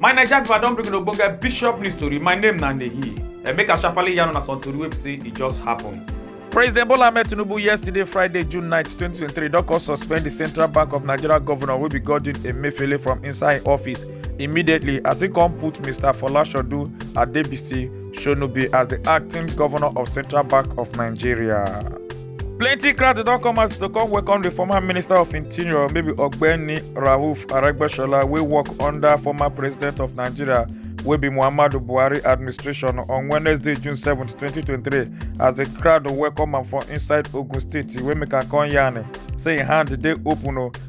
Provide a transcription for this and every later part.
My Naija people, I don bring una ogbonge bishop news tori. My name na Nehi. And make I sharply yarn una some tori wey be say e just happen. President Bola Ahmed Tinubu yesterday, Friday, June 9, 2023, don come suspend the Central Bank of Nigeria governor wey be Godwin Emefiele from inside im office immediately as he come put Mr. Folashodu Adebisi Shonu be as the acting governor of Central Bank of Nigeria. Plenty crowd don come out to come welcome the former Minister of Interior, maybe Ogbeni Rauf Aregbesola, wey work under former President of Nigeria, wey be Muhammadu Buhari administration on Wednesday, June 7, 2023, as the crowd welcome am for inside Ogun State, wey make am come yarn say im hand dey open o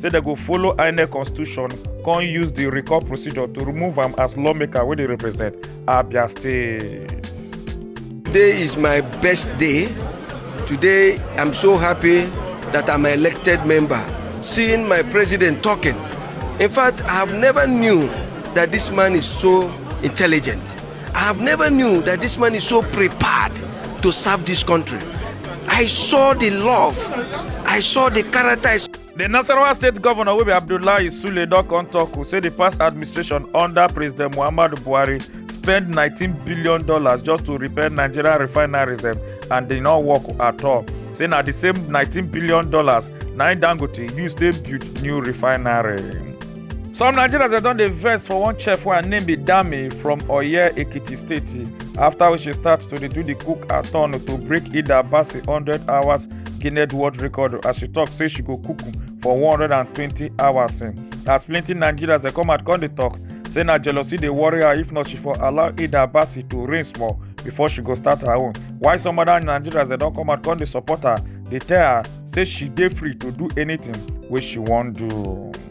say dem go follow inec constitution come use di recall procedure to remove am as lawmaker wey dey represent abia state. today is my best day today i'm so happy that i'm an elected member seeing my president talking in fact i have never knew that this man is so intelligent i have never knew that this man is so prepared to serve this country i saw the love i saw the character di nasarawa state govnor wey be abdullahi sule don come tok say di past administration under president muhammadu buhari spend nineteen billion dollars just to repair nigeria refineries dem and dey no work at all say na di same nineteen billion dollars na im dangote use take build new refinery. some nigerians dem don dey vex for one chef wey her name be dami from oye ekiti state afta wey she start to dey do di cook aton to break ida bassey hundred hours guinness world record as she tok say she go cook for 120 hours as plenty nigerians dey come out come dey tok say na jealousy dey worry her if not she for allow ida abasi to reign small before she go start her own while some other nigerians dey don come out come dey support her dey tell her say she dey free to do anything wey she wan do.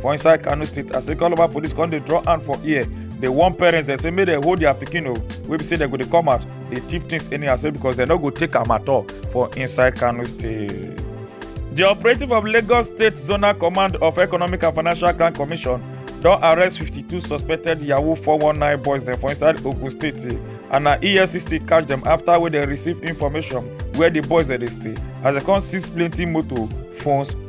for inside kano state as say calabar police come dey draw hand for ear dey warn parents dem say make dem hold their pikin o wey be say dem go dey come out dey thief things anyhow say because dem no go take am at all for inside kano state. di operative of lagos state zonal command of economic and financial crime commission don arrest 52 suspected yahoo 419 boys dem for inside ogun state and na efcc catch dem after wey dem receive information where di boys dem dey stay as dem come seize plenty motor phones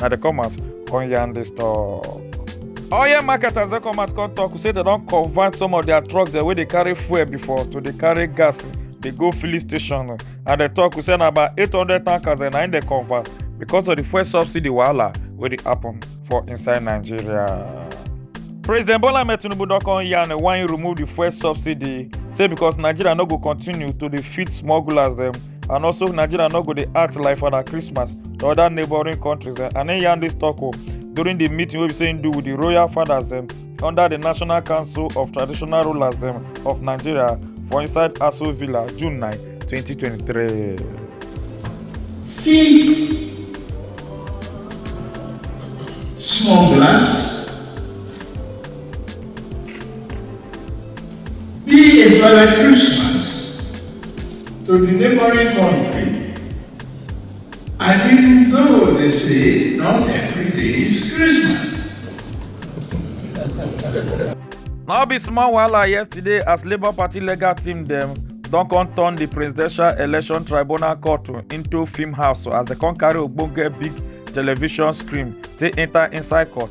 na dey come out come yarn dis talk. oil marketers don come out come talk say dem don convert some of their trucks dem wey dey carry fuel before to dey carry gas dey go filling station and dem talk say na about eight hundred tankers dem na im dem convert because of the fuel subsidy wahala wey dey happen for inside nigeria. president bola ahmed tinubu don come yarn why im remove the fuel subsidy say because nigeria no go continue to dey feed smugglers dem and also nigeria no go dey act like father christmas to other neighbouring countries dem and im yarn dis tok o during di meeting wey be say im do wit di royal fathers dem under di national council of traditional rulers dem of nigeria for inside aso villa june 9 2023. Feed smugglers. Be a father Christmas. to di neighbouring kontri and even though dey say not everyday is christmas No be small wahala yesterday as Labour Party legal team dem don come turn di Presidential Election Tribunal Court into film house as dem come carry ogbonge big television screen take enter inside court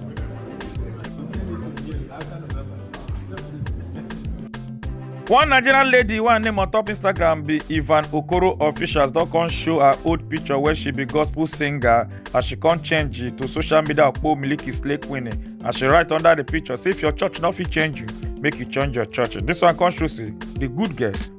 one nigerian lady wey her name on top instagram be ivan okoro officials don come show her old picture where she be gospel singer as she come change it to social media okpo miliki slay queen as she write under the picture say if your church no fit change you make you change your church this one come show say the good girl